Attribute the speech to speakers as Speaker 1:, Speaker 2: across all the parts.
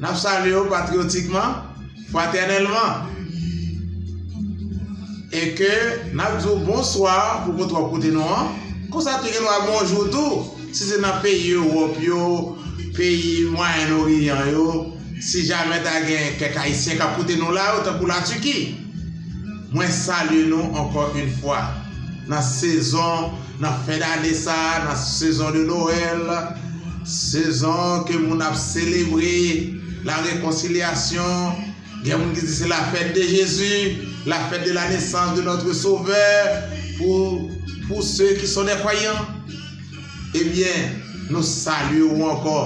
Speaker 1: N ap salye w patriyotikman, fratènèlman, e ke n ap di w bonswa pou kote w ap koute nou an, konsa tou gen dwa bonjou tou, si se nan peyi Ewòp yo, peyi Mwayen Oriyan yo, si jamè ta gen kèk Ayisyen k ap koute nou la yo, tankou Latiki. Mwen salye nou ankò yn fwa nan sezon nan fen dane sa nan sezon de Noël sezon ke moun ap selebre la rekonsilyasyon gen moun ki di se la fête de Jésus la fête de la naissance de notre sauveur pou pou se ki son des croyants. Ebyen, nou salye ou ankò.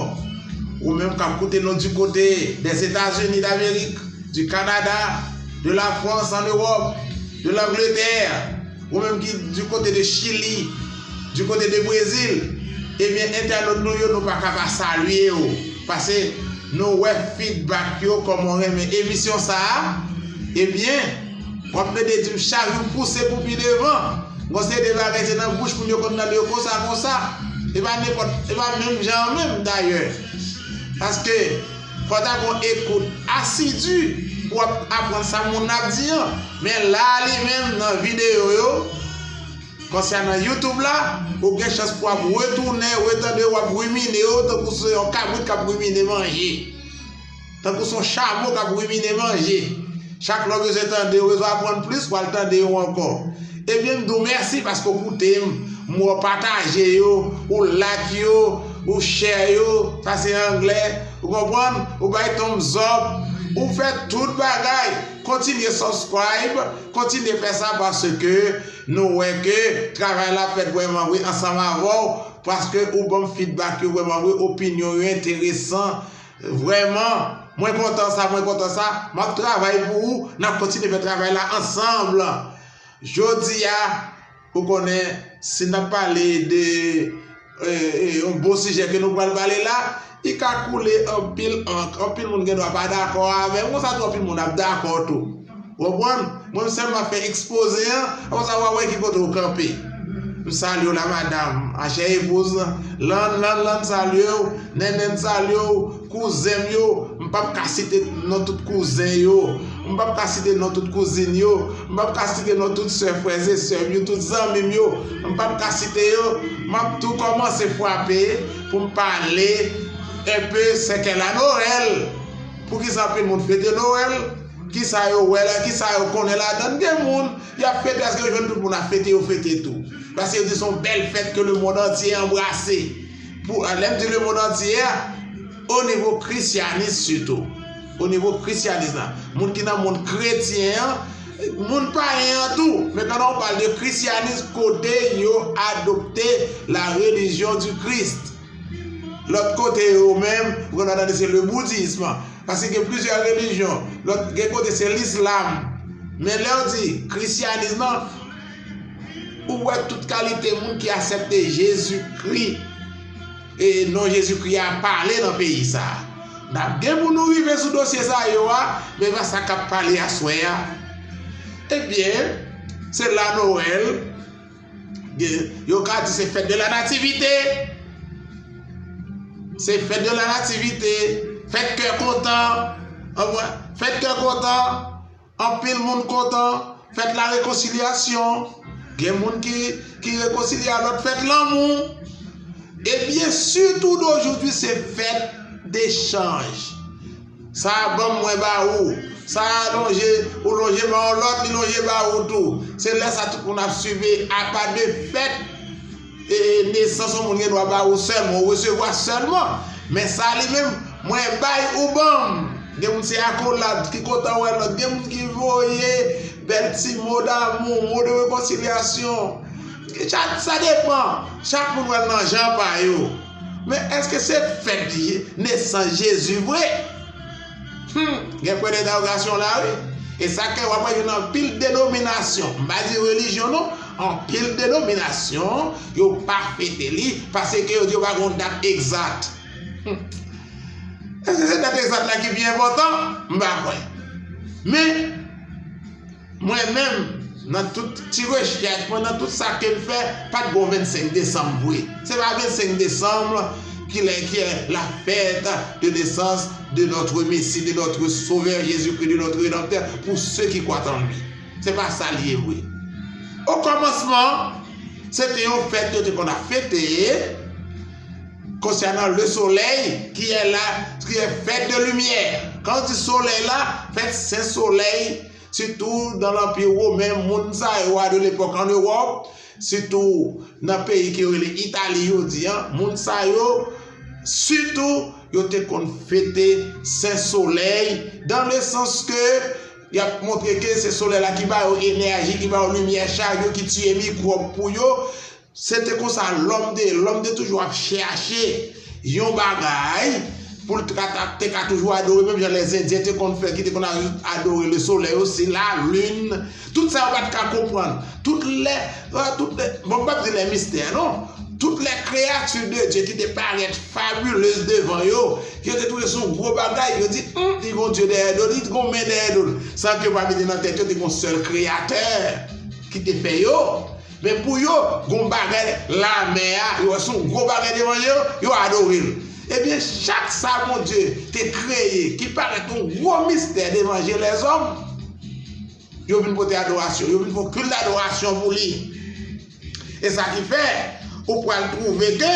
Speaker 1: Ou menm k ap koute nou di kote Dèzetazini Damerik, di Kanada, de Lafrans an Ewòp, de Langletè, ou menm ki di kote de Chili, di kote de Brezil, ebyen entènot nou yo nou pa ka pa salye ou pase nou wè fidbak yo kòman ou renmen emisyon sa a, ebyen. Wap mete dim chak jou pouse pou pi devan. Gon seri de bagay se nan bouch moun yo konn tande yo konsa konsa. E pa nenpòt, e pa menm jan an menm dayè. Paske fò ta gon ekout asidi pou wap aprann sa moun nan ap di an. Men la a li menm nan videyo yo, konsa nan youtube la, ou gen chans pou wap retounen, retande yo wap rimine yo tankou se yon kabrit kap rimine manje. Tankou son chamo k ap rimine manje. Chak lè w bezwen tande yo, bezwen aprann plis, w al tande yo ankò. Ebyen m di w mèsi paske w koute m, m wè w pataje yo, ou like yo, ou share yo, sa se anglè, ou konprann, ou bay thumbs up, ou fè tout bagay. Kontinye subscribe, kontinye fè sa paske nou wè ke travay la fèt vrèman vre ansanm avè w paske ou ban m feedback yo vrèman vre, opinyon yo enteresan. Vrèman Mwen kontan sa mwen kontan sa map travay pou ou nap kontinye fè travay la ansanm jodia ou konnen si nap pale de yon bon sijè ke nou pral pale la li ka koule anpil ank anpil moun gen dwa pa dakò avèm konsa tou anpil moun ap dakò tou. Ou konprann? Mwen m sèlman fè ekspoze an, apre sa wa wè ki kote ou kanpe. M salye w la madam, ma chè epouz lan, lan lan lan salye w, nènèn salye w, kouzen m yo, m pap ka site non tout kouzen yo, m pap ka site non tout kouzin yo, m pap ka site non tout sè frè e sè m yo, tout zanmi m yo, m pap ka site yo, m ap tou kòmanse fwape pou m pale enpe sè kè la Noël, poukisa anpil moun fete Noël? Kisa yo wè la, kisa yo konnen ladann, gen moun yap fete aske yo jwenn tout moun ap fete yo fete tou. Paske yo di son bèl fèt ke le mond antye anbrase. Pou lè m di le mond antye a, o nivo krisyanis sitou. O nivo krisyanis la, moun ki nan mond kretyen an, moun payen an tou, men pandan ou pale de krisyanis kote yo adopte la relijyon di Christ. Lòt kote yo menm pran nan tande se le boudism paske gen plizyè relijyon lòt gen kote se lislam men lè ou di krisyanism lan ou wè tout kalite moun ki asèpte Jezikri e non Jezikri a pale nan peyi sa a n ap gen pou nou rive sou dosye sa yo a men va sa k ap pale aswè a ebyen se la nowèl Yo ka di se fèt de la nativite, se fèt de la nativite, fèt kè kontan, fèt kè kontan, anpil moun kontan, fèt la rekonsilyasyon, gen moun ki rekonsilya lòt fèt lanmou. E byen sitou dojou di se fèt de chanj. Sa a ban m, mwen ba ou. Sa a lonje, ou lonje ba yon lòt, li lonje ba ou tou. Se lè sa a tout moun ap sive, apa de fèt e nesans yon moun gen dwa ba ou sèlman, ou resevwa sèlman. Men sa a li menm, mwen bay, ou ban m. Gen moun se akolad, ki kontan wè lòt. Gen moun ki voye bèl ti mo damou, mo de rekonsilyasyon. Sa depan, chak moun wè l nan jan pa yo. Men eske se fèt nesans Jezi vre? Humm, gen pwen dentawgasyon la wi. E sa ke wap wè yon anpil denominasyon, m pa di relijyon non, anpil denominasyon, yo pa fete li, pase ke yo di yo pa gon dat egzat. Humm, eske se dat egzat la ki pi enpotan? M pa kwè. Men. Mwen menm nan tout ti rechèch mwen nan tout sa kem fè pat gon 25 desanm vre se pa 25 desanm ki lè ki la fèt de nesans de notre mesi de notre sovè jezi kri de notre redanptè pou se ki kwat an li se pa sa li ye vre o kòmansman se te yon fèt yo te konn ap fete konsènan le solèy ki la ki fèt de limyè kan di solèy la fèt se solèy sitou nan lanpi women moun sa yo a de lepòk an Ewòp, sitou nan peyi ke yo rele Itali jodi an, moun sa yo sitou yo te konn fete Sen Solèy dan le sans ke y ap montre ke se solèy la ki ba yo enèji, ki ba yo limyè chak jou, ki tiye mikwòb pou yo. Se te konsa lòm te ye, lòm te toujou ap chèache yon bagay pou l te ka toujou adore menm jan lè zendyen te konn fè ki te konn adore le solèy osi, la lin, tout sa yo pa t ka konprann, tout lè, tout lè, bon m p ap di lè mistè non, tout lè kreyati de Dye ki te parèt fabulez devan yo, ke yo te twouve se yon gwo bagay, yo di, hum, li gen yon Dye dèyè do li, li gen yon men dèyè do l, san ke yo pa mete nan tèt yo te gen yon sèl kreyatè ki te fè yo. Men pou yo, gon bagay la mè a, yo wè son gwo bagay devan je yo, yo adore l. Ebyen, chak sa Bondye te kreye ki parèt yon gwo mistè devan je lèzòm, yo vin pote adorasyon, yo vin fè yon kilt dadorasyon pou li. E sa ki fè, ou pral twouve ke.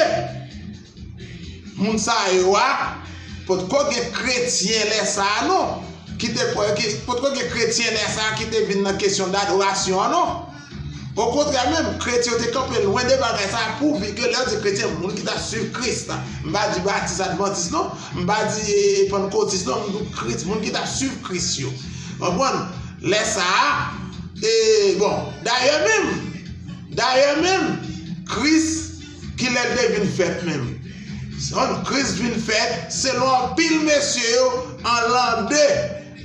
Speaker 1: Moun sa yo a potko gen kretyen lè sa a non, ki te kwè, ki potko gen kretyen lè sa a ki te vin nan kesyon dadorasyon an non. Okontrè menm, kretyen yo te kanpe lwen de bagay sa a pouvi ke lè yo di kretyen, moun ki ta suiv Kris la. M pa di batis advantis non, m pa di pannkotis non, m di kri, moun ki ta suiv Kris yo. Konprann? Lè sa a, e, bon, dayè menm, dayè menm, Kris, Kilè l te vin fèt menm? Se yon Kris vin fèt selon anpil mesye yo an lan 2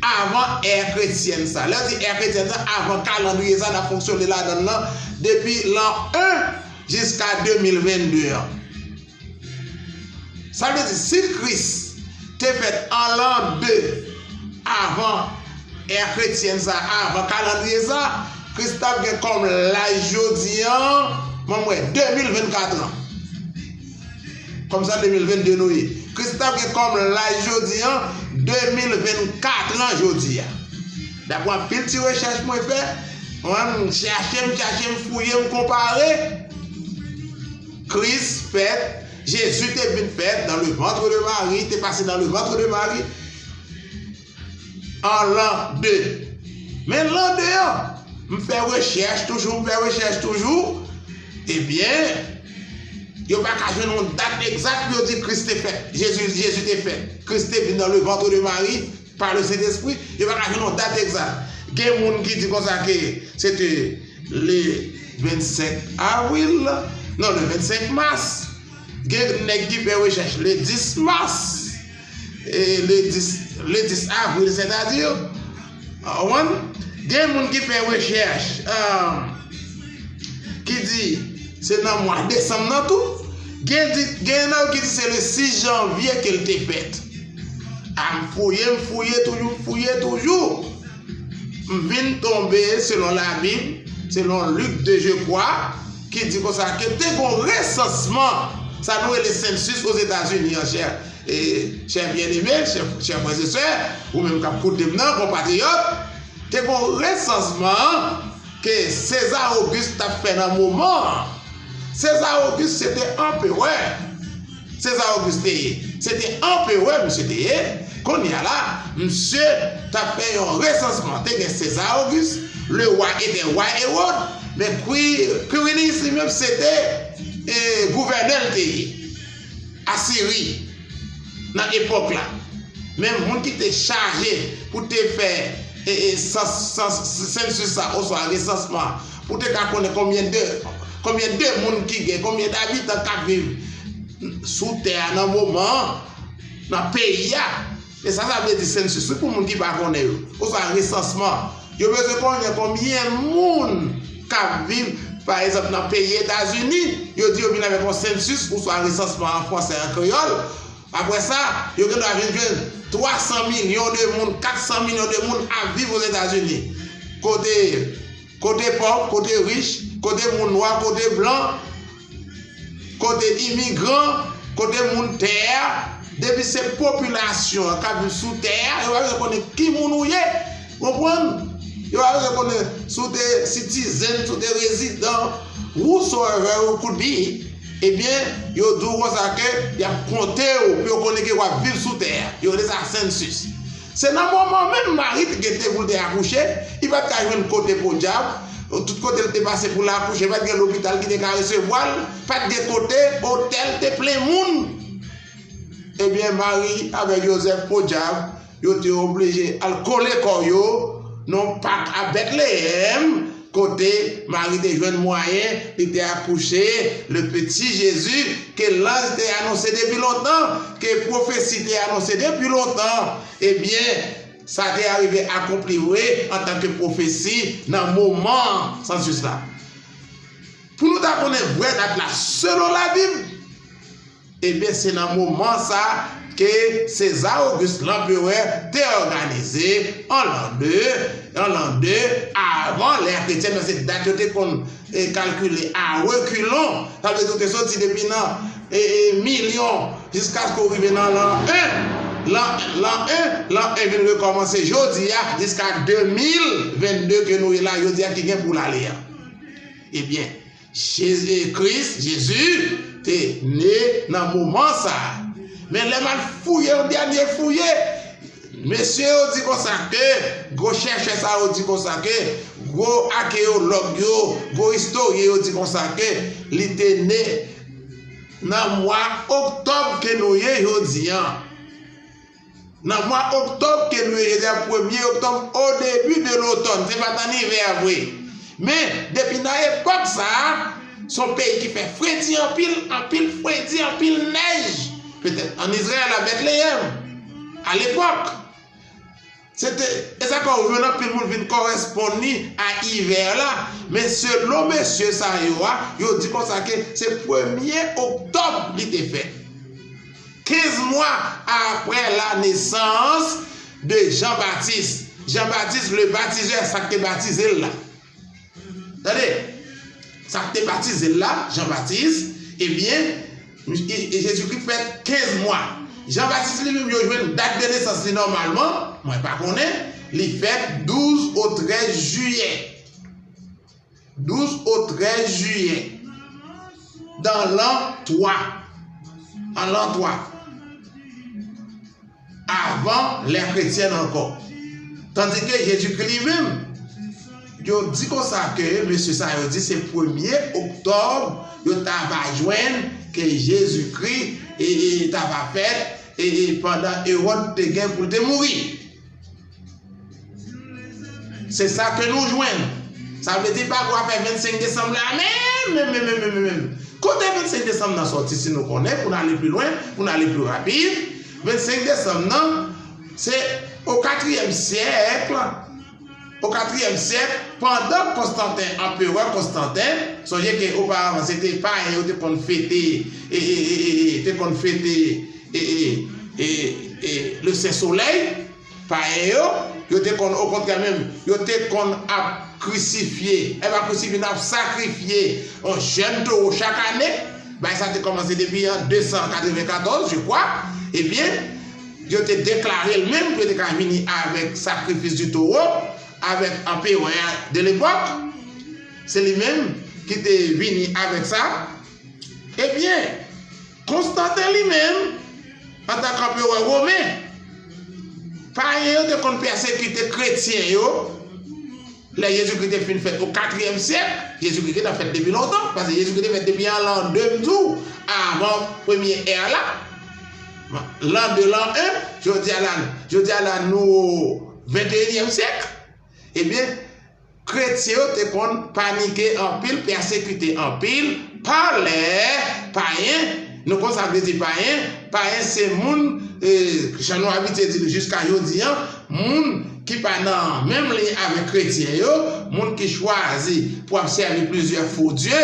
Speaker 1: avan è kretyèn sa. Lè yo di è kretyèn sa, avan kalandriye sa n ap fonksyone ladan l lan depi lan 1 jiska 2022 an. Sa vle di si Kris te fèt an lan 2 avan Ère Chrétienne sa avan kalandriye sa, Kris t ap gen kòm laj jodi an, banm wè, 2024 an. Kòm sa 2022 nou ye. Kris t ap gen kòm laj jodi an, 2024 an jodi a. Daprè anpil ti rechèch mwen fè, mwen m chache, m chache, m fouye, m konpare, Kris fèt, Jésus te vin fèt dans le ventre de Marie, te pase dans le ventre de Marie, an lan 2. Men lan 2 an, m fè rechèch toujou, m fè rechèch toujou, ebyen, yo pa ka jwenn yon dat egzat pou yo di Kris te fèt, Jezi, Jezi te fèt, Kris te vin nan le ventre de Mari, pa le Sentespri, yo pa ka jwenn yon dat egzat. Gen moun ki di konsa ke se te le 25 avril, non, le 25 mas, gen nèg ki fè rechèch le 10 mas. e le 10 le 10 avril sètadi wan gen moun ki fè rechèch ki di se nan mwa desanm nan tou gen di gen nan yo ki di se le 6 janvye ke l te fèt a m fouye m fouye toujou m fouye toujou m vin tonbe selon labib selon lik 2 je kwa ki di konsa ke te gon resansman sa nou rele sensus ozetazini an chè E, chè byeneme, chè frèzesè, ou menm k ap koute m nan, konpatriyòt, te gon resansman ke Seza Ogis t ap fè nan moman an. Seza Ogis se te anperè. Seza Ogis te ye. Se te anperè misye te ye. Kounye a la, misye t ap fè yon resansman. Te gen Seza Ogis, le wa etè wa Ewòd, men Kwiriniyis li menm se te gouvènè l te ye. Asiri nan epòk la, men moun ki te chaje pou te fè sensus la oswa resansman an, pou te ka konnen konbyen de konbyen de moun ki gen, konbyen dabitan k ap viv sou tè a nan moman an, nan peyi a. E sa sa vle di Census wi pou moun ki pa konnen yo, oswa resansman. Yo bezwen konnen konbyen moun kap viv pa egzanp nan peyi Etazini, yo di yo vin avèk yon Census oswa resansman an fransè an kreyòl, aprè sa yo gen dwa vin jwenn 300 milyon de moun, 400 milyon de moun ap viv Ozetazini kote Kote pòv, kote rich, kote moun nwa, kote blan, kote imigran, kote moun tè a, depi se popilasyon an k ap viv sou tè a, yo pa bezwen konnen ki moun ou ye, ou konprann? Yo pa bezwen konnen si w te sitizen, si w te rezidan, whosoever you could be, ebyen yo di w konsa ke y ap konte w pou yo konnen ke w ap viv sou tè a, yo rele sa sensus. Se nan moman menm Mari t gen te poul te akouche, li pat ka jwenn kote podyab, tout kotel te pase poul akouche pat gen lopital ki te ka resevwal, pat gen kote, otèl te plen moun. Ebyen Mari avèk Jozèf podyab yo te oblije al kole kò yo nan yon pak a Betleyèm Kote Mari te jwenn mwayen li te akouche le peti Jezi ke lanj te anonse depi lontan, ke pwofesi te anonse depi lontan, ebyen, sa te arive akonpli vre antanke pwofesi nan moman an, sansus la. Pou nou ta konnen vrè dat la selon Labib, Ebyen se nan moman sa ke César Auguste L'Empereur te òganize an l'an de, an l'an de avan l'ère chrétienne men se dat yo te konn kalkile a reculons, sa vle di ou te soti depi nan milyon jiskaske ou rive nan l'an 1, l'an 1, l'an 1 vin rekòmanse jodi a jiska 2022 ke nou ye la jodi a ki gen pou l'ale a. Ebyen. Jezi Kris, Jezi, te ne nan moman sa a. Men lè m al fouye yon dènye fouye, mesye yo di konsa ke, gwo chèchè sa yo di konsa ke, gwo akeyològ yo, gwo istoryen yo di konsa ke, li te ne nan mwa oktòb ke nou ye jodi an. Nan mwa oktòb ke nou ye jodi a, premye oktòb, o debi de lotòn, se pa t ann ivè vre. Men, depi nan epòk sa a, s on peyi ki fè fredi anpil, anpil fredi, anpil nèj. Petèt ann Izrayèl, a Bètleyèm, alepòk, se te, e sa ka ouvè nan anpil moun vin kòresponn li a ivè la. Men selon mesye sa yo a, yo di konsa ke se premye oktòb li te fèt. Kenz mwa apre lanesans de Jan Batis, Jan Batis le Batizè, sa k te batize l la. Tande! Sa k te batize l la, Jan Batis, ebyen, Jezikri fèt kenz mwa. Jan Batis li menm yo jwenn dat de nesans li nòmalman, mwen pa konnen, li fèt douz ou trèz jiyè. 12 o 13 jiyè, dan lan 3, an lan 3, avan lè kretyèn ankò. Tandike Jezikri li menm, yo di konsa ke mesye sa yo di se premye oktòb yo ta va jwenn ke Jezikri ta va fèt pandan Ewòd te gen pou l te mouri. Se sa ke nou jwenn. Sa vle di pa gwa fè 25 desanm la menm, menm, menm, menm, menm, menm. Kote 25 desanm nan sòti si nou konnen pou n ale pi lwen, pou n ale pi rapid. 25 desanm nan, se o katriyèm syèk, o katriyèm syèk, pandan Konstanten, anperè Konstanten, sonje ke oparavan se te payen yo te konn fete, e, e, e, e, e, te konn fete, e, e, e, e, e, le sen solèy. Payen yo, yo te konn okontrè menm, yo te konn ap krisifye, e pa krisifye nan, ap sakrifye yon jèn towo chak ane, bagay sa te kòmanse depi an 294, je kwa, ebyen, yo te deklare l menm pou yo te ka vini avèk sakrifis di towo, avèk anperè a de lepòk, se li menm ki te vini avèk sa, ebyen. Konstanten li menm, antan k anperè women, payen yo te konn pèsekite kretyen yo lè Jezikri te fin fèt o katriyèm syèk. Jezikri gentan fèt depi lontan, pase Jezikri te fèt depi an lan 2 m di w, avan premye è la, lan 2, lan 1, jodi a la, jodi a la nou o venteyinyèm syèk, ebyen, Kretyen yo te konn panike anpil, pèsekite anpil, pa lè payen, nou konn sa vle di payen, payen se moun, jan nou abitye di l jiska jodi an, moun ki pa nan menm liy avèk kretyen yo, moun ki chwazi pou ap sèvi plizyè fo dye,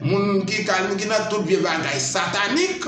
Speaker 1: moun ki nan tout vye bagay satanik.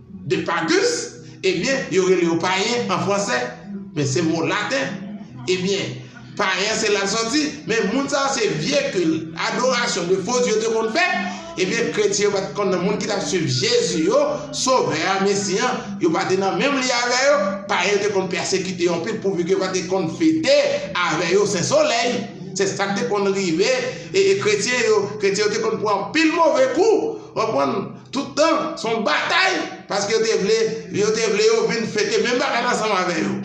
Speaker 1: De pagus, ebyen yo rele yo payen an fransè, men se mo laten, ebyen payen se la l soti, men moun sa yo se vye kil, adorasyon de fo dye yo te konn fè, ebyen kretyen yo pa t konn nan moun ki t ap swiv Jezi yo, sovè a, mesi an, yo pa te nan menm liy avè yo, payen yo te konn pèsekite yo anpil pouvi ke yo pa te konn fete avè yo sen solèy, se sa k te konn rive kretyen yo, kretyen yo te konn pran anpil move kou, w konprann? Tout tan, se yon batay paske yo te vle yo te vle yo vin fete menm bagay la ansanm avè yo.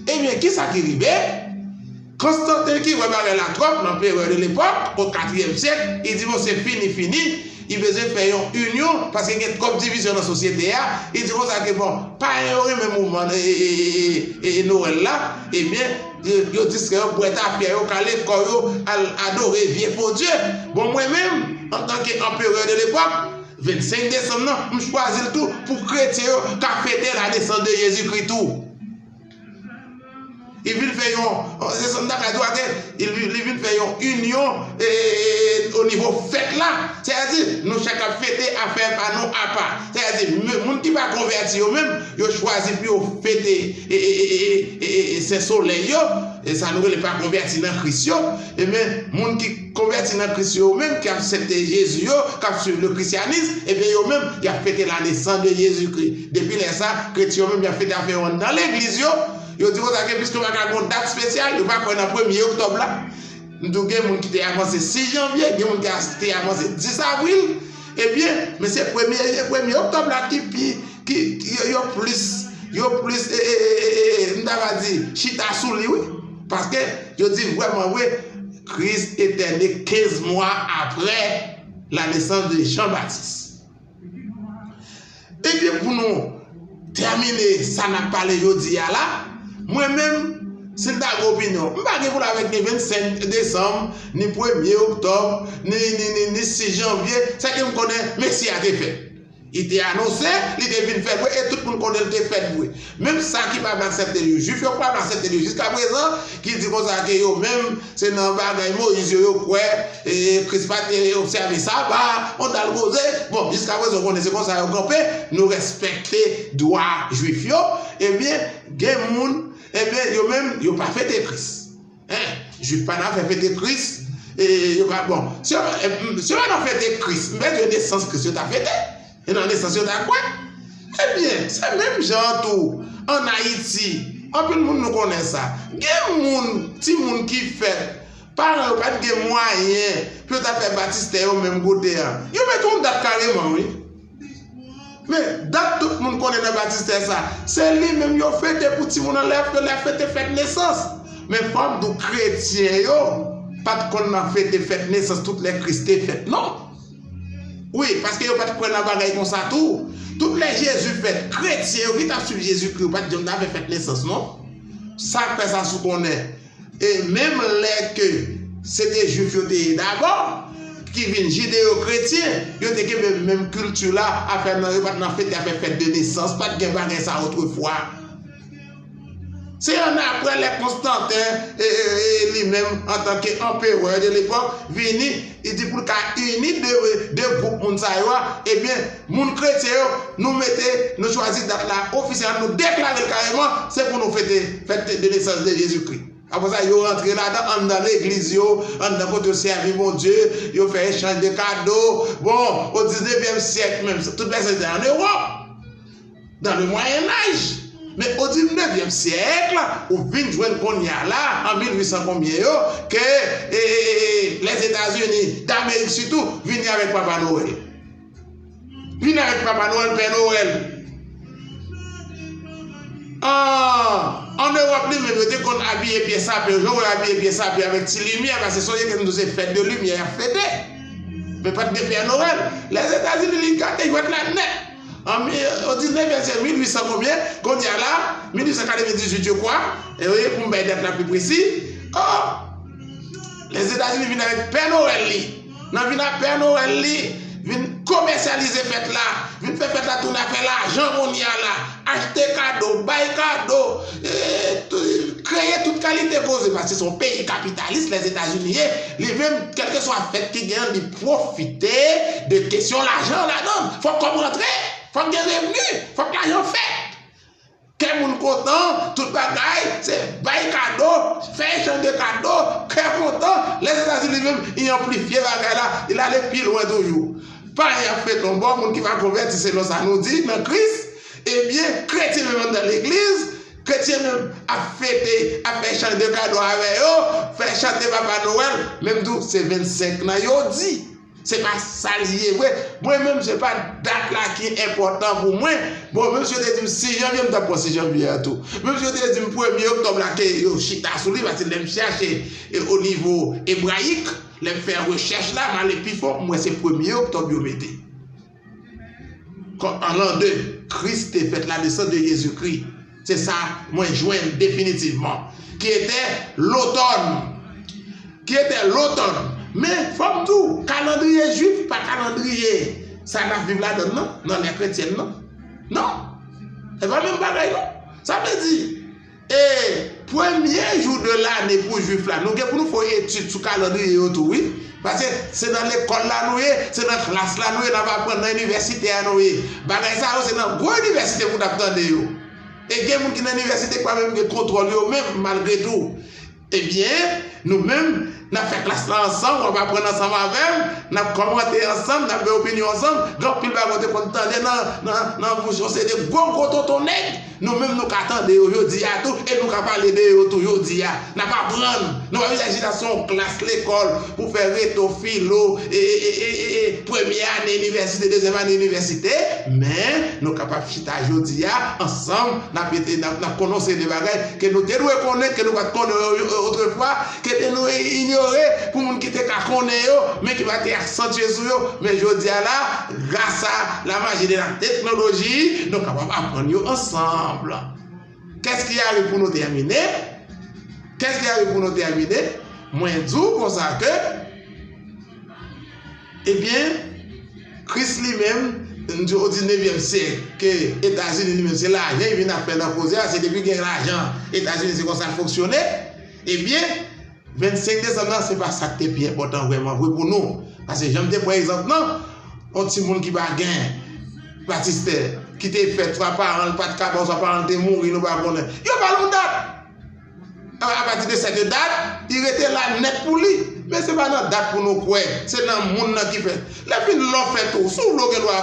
Speaker 1: Ebyen, ki sa ki rive? Konstanten ki wè bagay la twòp, lanperè de lepòk, o katriyèm syèk, li di bon se fini fini, li bezwen fè yon inyon paske gen twòp divizyon nan sosyete a, li di konsa ke bon, payen yo renmen mouvman e e e e e Nowèl la, ebyen, Yo distrè yo bwè tafya yo kale kò yo al adore vye fo dye. Bon mwen menm antanke anperè de lepòk, 25 desanm nan m chwazi l tou pou kretyen yo ka fete la nesans de Jezi Kri tou. Li vin fè yon, se sa m ta ka di w ake, li vin fè yon inyon o nivo fèt la. Sètadi nou chak ap fete afè pa nou apa. Sètadi moun ki pa konvèti yo menm. Yo chwazi pou yo fete Sen Solèy yo, sa nou rele pa konvèti nan Kris yo, enben moun ki konvèti nan Kris yo menm ki aksepte Jezi yo, k ap swiv le Krisyanis, enben yo menm y ap fete la nesans de Jezikri. Depi lè sa, kretyen yo menm y ap fete afè yo nan legliz yo, yo di konsa ke piske yo pa ka gen yon dat spesyal, yo pa kwè nan premye oktòb la, m di w gen moun ki te avanse 6 janvye, gen moun ki te avanse 10 avril, ebyen men se premye oktòb la ki pi. yo plis yo plis m ta ka di chita sou li wi paske yo di vrèman vre Kris te tène 15 mwa aprè la nesans de Jean Baptiste ebyen pou nou tèmine sa nap pale jodi a la mwen menm si m ta gen opinyon m pa gen pou la vek ni 25 desanm ni premye oktòb ni 6 janvye sa ke m konnen mesi a te fèt Li te anonse, li te vin fè vre e tout moun konnen li te fèt vre. Menm sa ki pa vle aksepte l yo, Juif yo pa vle aksepte l yo jiskaprezan, ki di konsa ke yo menm se nan bagay Moyiz yo yo kwè, Kris pa te obsève Saba, on dal koze. Bon, jiskaprezan ou konnen se konsa yo kanpe, nou rèspèkte dwa Juif yo, ebyen gen moun, ebyen yo menm yo pa fete Kris. Hein Jude pa nan fè fete Kris e yo ka bon si yo si yo pa nan fete Kris m'pè di yo nesans Kris yo ta fete e nan nesans yo ta kwè ebyen se menm jan an tou an Ayiti anpil moun nou konnen sa gen moun ti moun ki fèt paran yo pat gen mwayen pou yo ta fè batistè yo menm kote an yo met yon dat kareman wi. Men, dat tout moun konnen nan batistè sa, se li menm yo fete pou timoun an lè yo lè fete fèt nesans. Men fò m di w kretyen yo pa t konn nan fete fèt nesans tout lè Kris te fèt non. Wi, paske yo pa t kwè nan bagay konsa tou. Tout lè Jezi fèt, kretyen yo ki t ap suiv Jezikri yo pa t janm nan fè fèt nesans non. Sa k fè sa si w konnen? E menm lè ke se te Jwif yo te ye dabò, ki vin jideyo-kretyen, yo te kenbe menm kilti la, afè nan yo pa t nan fete afè fèt de nesans, pa t gen bagay sa otrefwa. Se annapre lè Konstanten, li menm antanke anperè de lepòk, vini, li di pou l ka ini de gwoup moun sa yo a, ebyen, Moun kretyen yo, nou mete, nou chwazi dat la ofisyèlman, nou deklare l kareman, se pou nou fete fèt de nesans de Jezikri. Apre sa, yo rantre ladan, anndan legliz yo, anndan kote yo sèvi Bondye, yo fè echanj de kado. Bon, o diznevyèm syèk menm, tout bèse te an Ewòp, dan le Mwayennaj. Men o diznevyèm syèk, ou vin jwenn kounye a la, an 1800 konbyen yo, ke Lèzetazini Damerik sitou vini avèk Papa Nowèl. Vin avèk Papa Noël, Pè Noël. Ahh an Europe li menm yo te konn abiye pye sapen, jan w wè abiye pye sapen avèk ti limyè pase sonje ke nou se fèt de limyè y ap fete. Men pa t gen Pè Noël. Lèzetazini li gate jwèt la nèt. An o diznevyèm syèk, 1800 konbyen, kounye a la, 1898 je kwa, e wi pou m bay dat la pi presi, oh Lèzetazini vin avèk Pè Noël li. Nan vin ak Pè Nowèl li, vin komèsyalize fèt la, vin fè fèt la tounen afè lajan kounye a la, achte kado, bay kado, kreye tout kalite koze paske se yon peyi kapitalis Lèzetazini ye, li menm kèlkeswa fèt ki gen li pwofite de kesyon lajan ladan l. Fòk kòb rantre, fòk gen revni, fòk lajan fèt. Kè moun kontan, tout bagay, se bay kado, fè echanj de kado, kè kontan, Lèzetazini li menm li anplifye bagay la, li l ale pi lwen toujou. Pa y ap fè tonbo moun ki pa konvèti selon sa nou di nan Kris, ebyen kretyen menm anndan legliz, kretyen menm ap fete, ap fè echanj de kado avè yo, fè chante Papa Nowèl, menm tou se 25 nan yo di. Se pa sa li ye vre. Mwen menm se pa dat la ki enpòtan pou mwen. Bon, menm si yo te di m 6 janvye, m t ap pran 6 janvye a tou. Menm si yo te di m premye oktòb la ke yo chita sou li, paske lè m chache o nivo ebrayik, lè m fè rechèch la, m ale pi fon, m wè se premye oktòb yo mete. Kò an l'an de Kris te fèt, la nesans de Jezikri, se sa mwen jwenn definitivman, ki etè lotòn, ki etè lotòn. Men, fò m di w, kalandriye jwif pa kalandriye sa n'ap viv ladann nan, nan lè kretyèn nan. Non, se pa menm bagay non. Sa vle di. E premye jou de lane pou jwif la nou gen pou nou fè yon etid sou kalandriye yo tou wi paske se nan lekòl la nou ye se nan klas la nou ye nap aprann nan inivèsite a nou ye bagay sa yo se nan gwo inivèsite pou nap tande yo e gen moun ki nan inivèsite ki pa menm gen kontwòl yo menm malgre tou Ebyen, nou menm, n ap fè klas la ansanm, w ap aprann ansanm avè m, n ap kòmante ansanm, n ap gen opinyon ansanm, gen anpil bagay ou te konn tande nan bouch yon seri de gwo gwo tonton nèg, nou menm nou ka tande yo jodi a tou e nou ka pale de yo tou jodi a. N ap aprann, nou pa bezwen chita sou yon klas lekòl pou fè reto, filo, e premye ane inivèsite, dezyèm ane inivèsite, men nou kapab. chita jodi a ansanm, n ap ede, n ap kononse de bagay ke nou te dwe konnen, ke nou pa t konnen yo otrefwa, ke te nou inyore pou moun ki te ka konnen yo, men ki pa te asantye sou yo. Men jodi a la, grasa lamaji de la teknoloji, nou kapab aprann yo ansanm. Kès ki arive pou nou tèmine? Kès ki arive pou nou tèmine? Mwen di w konsa ke. Ebyen, Kris li menm, n di o diznevyèm syèk, ke Etazini li menm se lajan li vin ap fè nan koze a, se depi gen lajan Etazini se konsa l fonksyone, ebyen, 25 desanm nan se pa sa k te pi enpòtan vrèman vre pou nou. Pase jan m te pran egzanp nan, on timoun ki pa gen batistè, ki te fèt swa paran l pa t ka ba w swa paran l te mouri nou pa konnen, yo ba l on dat! A pati de cette date, li rete la nèt pou li. Men se pa nan dat pou nou kwè, se nan moun nan ki fè. Lè fin lò fèt ou, si w vle w gen dwa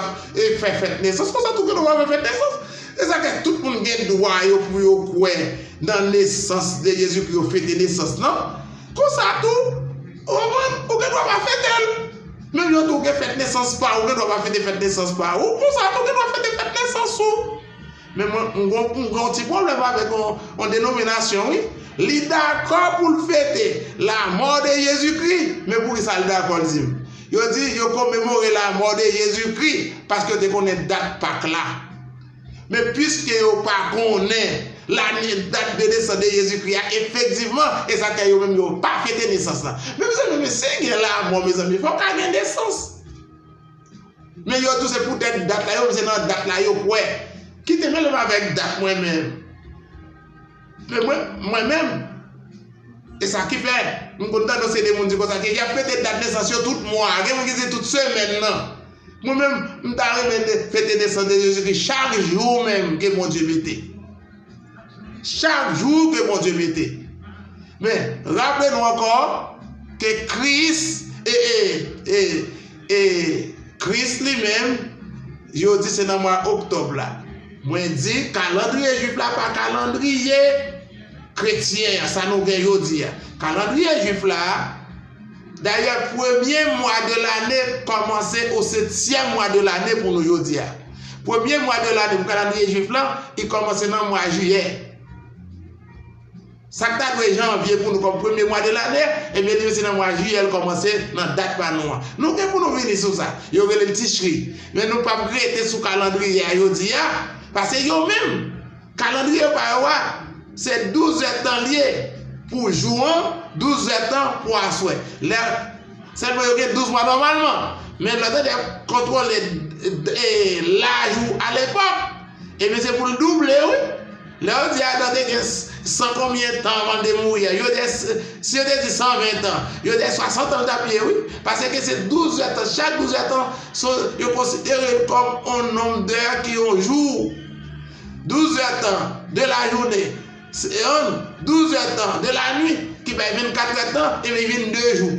Speaker 1: fè fèt nesans, konsa tou gen dwa fè fèt nesans. Se sa k fè tout moun gen dwa yo pou yo kwè nan nesans de Jezi, pou yo fete nesans nan. Konsa tou, ou konprann, ou gen dwa pa fete l. Menm jan tou ou gen fèt nesans pa ou, ou gen dwa pa fete fèt nesans pa ou, konsa tou ou gen dwa fete fèt nesans ou. Men mwen m gen yon ti pwoblèm avèk yon denominasyon wi, li dakò pou l fete lamò de Jezikri, men poukisa l dakò l di m? Yo di yo komemore lamò de Jezikri paske yo te konnen dat Pak la. Men piske yo pa konnen lane dat de nesans de Jezikri a efektivman, e sa k fè yo menm yo pa fete nesans la. Men mezanmi men si gen lamò mezanmi fòk ka gen nesans. Men yo tou se pou tèt dat la yo menm se nan dat la yo kwè. Kite mele m avèk dat mwen menm. Men mwen, mwen menm, e sa ki fè, m konn tandans ede moun di konsa ke y ap fete dat nesans yo tout mwa, gen moun ki di tout semèn nan. Mwen menm, m ta renmen fete nesans de Jezikri chak jou menm ke Bondye mete. Chak jou ke Bondye mete. Men, raple nou ankò ke Kris e, e, e, e, Kris li menm, yo di se nan mwa oktòb la. Mwen di, kalandriye jwif la pa kalandriye kretyen an, sa nou gen jodi a. Kalandriye jwif la, Dayè premye mwa de lane kòmanse o setyèm mwa de lane pou nou jodi a. Premye mwa de lane pou kalandriye jwif lan, li kòmanse nan mwa jiyè. Sa k ta dwe janvye pou nou kòm premye mwa de lane, ebyen li menm se nan mwa jiyè l kòmanse nan dat pa nou an. Nou gen pou nou vini sou sa. Yo rele l Tichri. Men nou p ap rete sou kalandriye a jodi a, pase yo menm. Kalandriye pa yo a, se 12 zè tan li ye pou jou an, 12 zè tan pou aswè. Lè, sèlman yo gen 12 mwa nòmalman. Men lòt elèv kontwole laj ou alepòk, ebyen se pou l double wi. Lè yo di Adan te gen san konbyen tan anvan l te mouri a, yo dè, si yo te di 120 tan, yo dè 60 tan l t ap ye wi. Paske se 12 zè tan, chak 12 zè tan, yo konsidere l kòm yon nonm dè ki yon jou. 12 zè tan de lajounen se yon 12 zè tan de lanwit ki bay 24 zè tan e li vin 2 jou.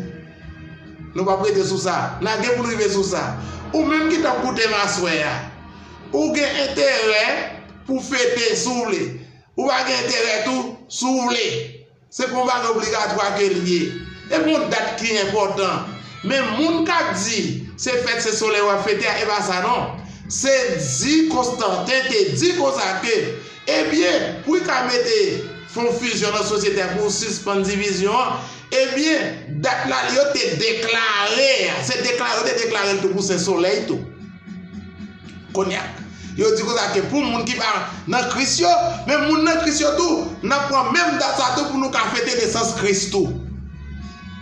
Speaker 1: Nou pap rete sou sa. Na gen pou n rive sou sa. Ou menm ki t ap koute m aswè a, ou gen enterè pou fete si w vle. Ou pa gen enterè tou si w vle. Se pa yon bagay obligatwa ke li ye. E gon dat ki enpòtan. Men moun k ap di se fèt se solèy w ap fete a, e pa sa non. Se di Konstanten te di konsa ke, ebyen, pou li ka mete fon fizyon nan sosyete a pou sispann divizyon an, ebyen, dat la li yo te deklare a. Se deklare yo te deklare l tou pou Sen Solèy tou. Konya, yo di konsa ke pou moun ki pa nan Kris yo, men moun nan Kris yo tou, n ap pran menm dat sa tou pou nou ka fete nesans Kris tou.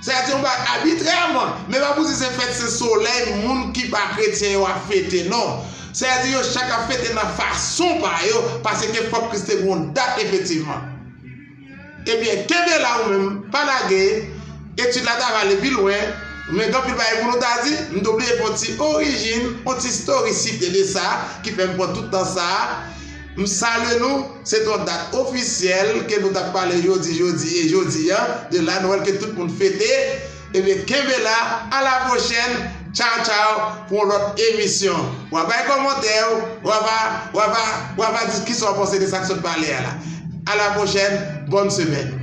Speaker 1: Sa se yon bagay abitrèman, men pa pou di se fèt se solèy moun ki pa kretyen yo ap fete non. Sa vle di yo chak ap fete nan fason pa yo, paseke fòk Kris te gen yon dat efektivman. Ebyen kenbe la ou menm pa lage, etid la ta rale pi lwen, men gen anpil bagay pou nou ta di, m te oblye fon ti orijin, on ti storicite de sa ki fè m pran tout tan sa, m salye nou, se te on dat ofisyèl ke nou tap pale jodi jodi e jodi an de la Noël ke tout moun fete, Ebyen kenbe la a la pwochèn tchaw tchaw pou yon lòt emisyon wa bay kòmantè w wa va wa va wa va di kisa w panse de sak sot pale a la a la pwochèn bòn semèn.